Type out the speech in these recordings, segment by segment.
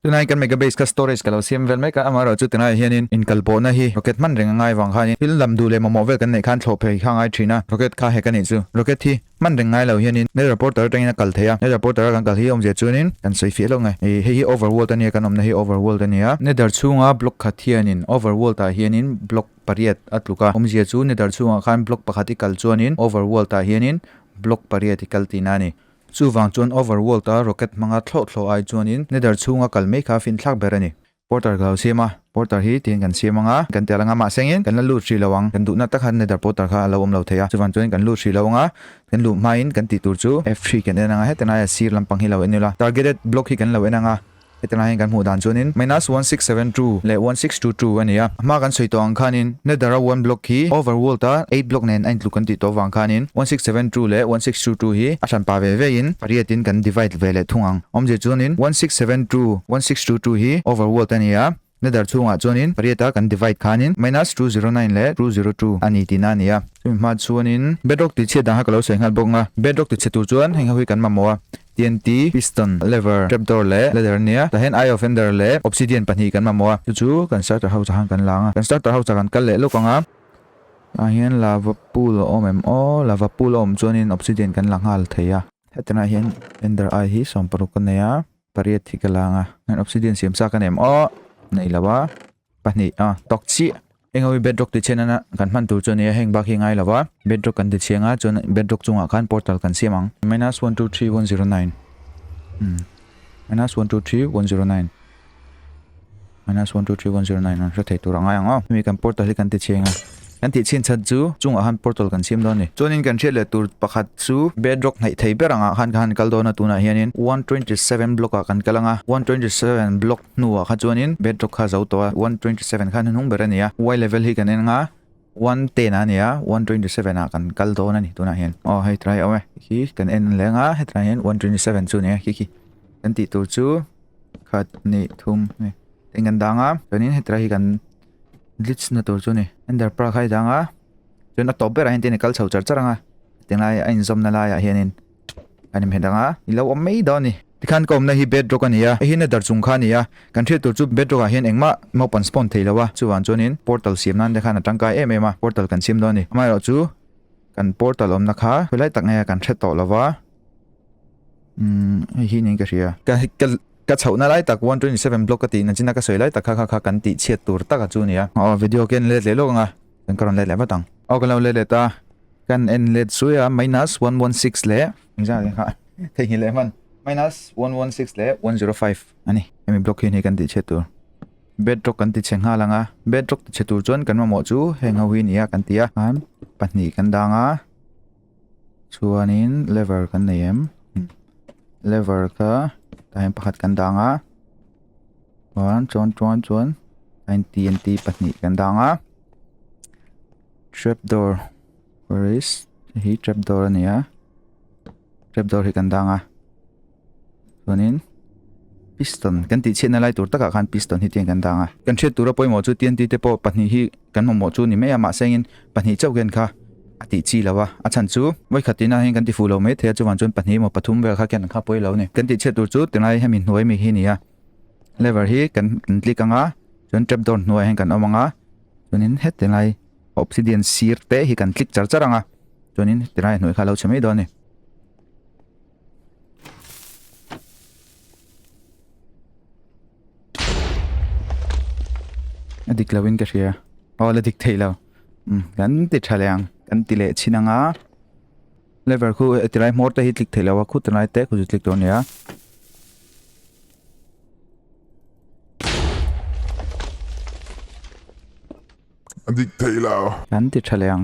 Tunai kan mega base kha storage ka lo siam vel mek a, amaherawh chu tilaiah hianin inkalpawhna hi rocket hman reng a ngai vang khanin thil lam duh leh mamawh vel kan neih khan thlawh phei kha a ngai thin a, rocket kha hack a nih chu. Rocket hi hman reng ngai lo hianin nether portal atangin a kal thei a, nether portal a kan kal hi awmzia chuanin kan sawi fiah hlawk nge, hei hi overworld a nia, kan awmna hi overworld a nia. Nether chhunga block khat hianin overworld ah hianin block pariat a tluk a, awmzia chu nether chhungah khan block pakhat i kal chuanin overworld ah hianin block pariat i kal tihna a ni. Chuvang chuan Overworld-a rocket hmanga thlawh thlawh ai chuanin Nether chhunga kal mai kha finthlak ber a ni. Porter ka lo siam a, Porter hi tihin kan siam anga kan ti alh anga mahsengin kan la lut hrih lo ang, kan duhna tak han Nether Porter kha a lo awm lo thei a, chuvang chuan kan lut hrih lo anga kan luh hmain kan tih tur chu F three kan en anga heta laia sir lampang hi lo en ila Targeted Block hi kan lo en anga Heti laiin kan hmuh dan chuanin minus one six seven two leh one six two two a ni a. A hma kan sawi tawh ang khanin nether a one block hi over world a eight block nen a intluk kan tih tawh vang khanin one six seven two leh one six two two hi a hran pah ve ve in pariatin kan divide ve leh thung ang. Awmzia chuanin one six seven two one six two two hi over world a ni a. Ladder chhungah chuanin pariata kan divide khanin minus two zero nine leh two zero two a ni tihna a ni a. Chumi hma chuanin bedrock tih chhiat dangah ka lo sawi nghal bawk ang a, bedrock tih chhe tur chuan heng ho hi kan mamawh a, TNT, piston, lever, trapdoor leh ladder a nia. Tah hian eye of ender leh obsidian pahnih kan mamawh a. Chu chu kan starter house ahan kan la ang a, kan starter house ah kan kal leh lawk ang a. Tah hian lava pool a awm em aw, lava pool a awm chuanin obsidian kan la nghal thei a. Hetinah hian ender eye hi sawm paruk ka nei a. Pariat hi ka lang a. An obsidian siam sa ka nem aw. Nei lo a. Pahnih a. Tok chiah. Engawi bedrock ti chhian nana kan hman tur chu a nia heng bak hi a ngai lo va. Bedrock kan ti chhiang a chuan bedrock chungah khan portal kan siam ang. Minus one two three one zero nine. Minus one two three one zero nine. Minus one two three one zero nine an hre thei tur a ngai ang a. Hemi kan portal hi kan ti chheng a. Kan tih chhin chhan chu chungah han portal kan siam dawn a ni. Chuanin kan hriat leh tur pakhat chu bedrock hnaih thei ber angah khan ka han kal dawn a, tunah hianin one twenty seven block-ah kan kal ang a, one twenty seven block hnuah kha chuanin bedrock kha a zo tawh a, one twenty seven khan a hnung ber a ni a, Y level hi kan en ang a. one ten a nia one twenty seven a kan kal dawn a ni tunah hian aw hei try awm e khi kan en leh anga hetlai hian one twenty seven chu nia khi khi kan tih tur chu khat ni thum nge ten kan danga chuanin hetlai hi kan glitch na tur chu ni ender pearl khai danga chuan a top berah hian ten e kal chho char char anga tilai a inzawmna laiah hianin Kan inhmeh dang a, i lo awm mai dawn a ni. Tikhan ka awmna hi bedrock a ni a, heihin a dar chung kha a ni a, kan hrilh tur chu bedrock ah hian engmah naupan spawn thei lo a, chuvang chuanin portal siam nan te khan a tangkai em em a, portal kan siam dawn a ni. Amaherawh chu kan portal awmna kha khawilai tak nge kan hre tawh lo va, umm hei hi niin ka hria. Ka ka ka chhohna lai tak one twenty seven block ka tihna china ka sawi lai tak kha kha kha kan tih chhiat tur taka chu a ni a. Aw video ke an let leh lawk ang a. kan ka rawn let leh vat ang aw ka lo let let a kan en let zui a minus 116 leh engzang leh kha thei hi leh man minus 116 leh 105 ani emi block hi ni kan ti che tur bedrock kan ti che nga langa bedrock ti che tur chuan kan mamawh chu heng ho hi nia kan tia han pahnih kan danga Chuanin lever kan nei em? Hm. Lever kha tah hian pakhat kan dang a. Chuan chuan chuan chuan line TNT pahnih kan dang a. Trapdoor. Where is? Hi trapdoor a ni a. Trapdoor hi kan dang a. chuanin piston kan tih chhiatna lai tur takah khan piston hi tian kan dang a kan hriat tura pawimawh chu tianti te pawh pahnih hi kan mamawh chu ni mai a mahse angin pahnih chauh hian kha a tih chi lo a a chhan chu vawi khatin ah hian kan ti fuh lo mai thei a chuvan chuan pahnih emaw pathum vel kha khian an kha pawi lo ni kan tih chhiat tur chu tilai hemi hnuai mi hi ni a lever hi kan kan click anga chuan trap door hnuai hian kan awm anga chuanin he tilai obsidian sir te hi kan click char char anga chuanin tilai hnuai kha lo chhe mai dawn a ni dik lo in ka hria aw la dik thei lo um kan ti tha leng kan ti leh chin anga lever khu eh, tilai mor te hi tlik thei lo a khu tilai te khu zu tlik tur nia dik thei lo kan ti tha leng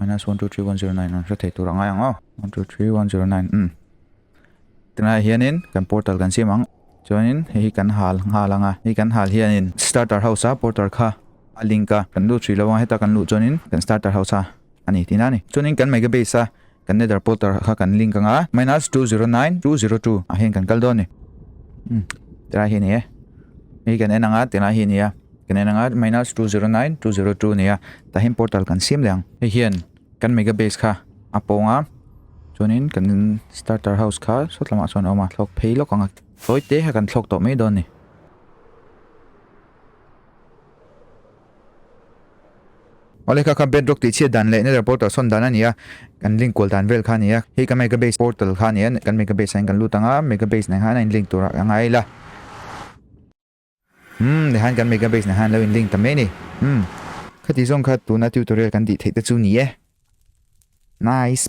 Minus one two three one zero nine rawn hre thei tur a ngai ang aw. One two three one zero nine um. Tunah hianin kan portal kan siam ang. Chuanin hei kan hal nghal anga hei kan hal hianin starter house a portal kha a link a kan lut hrilo anga heta kan lut chuanin kan starter house a ani tina ani. Chuanin kan mega base a kan nether portal kha kan link anga minus two zero nine two zero two a hian kan kal dawn ni. Um. Tunah hi ni e. Hei kan en anga tunah hi ni a. kan en anga minus two zero nine two zero two nia tah hian portal kan siam leh ang hei hian kan mega base kha a pawng a chuanin kan starter house kha sawt lamah chuan a awm a thlawk phei lawk ang a sawi te kha kan thlawk tawh mai dawn a ni Ole kha kha bedrock tih chiat dan leh nether portal sawn dan a nia kan link kual dan vel kha nia hei ka mega base portal kha nia kan mega base ah kan lut anga mega base nen kha in link tur a ngai la Umm, nihain kan mega base nihain lo in link ta mai ni. Umm. Khati zawng kha tuna tutorial kan tih theih te chu ni e. Nice.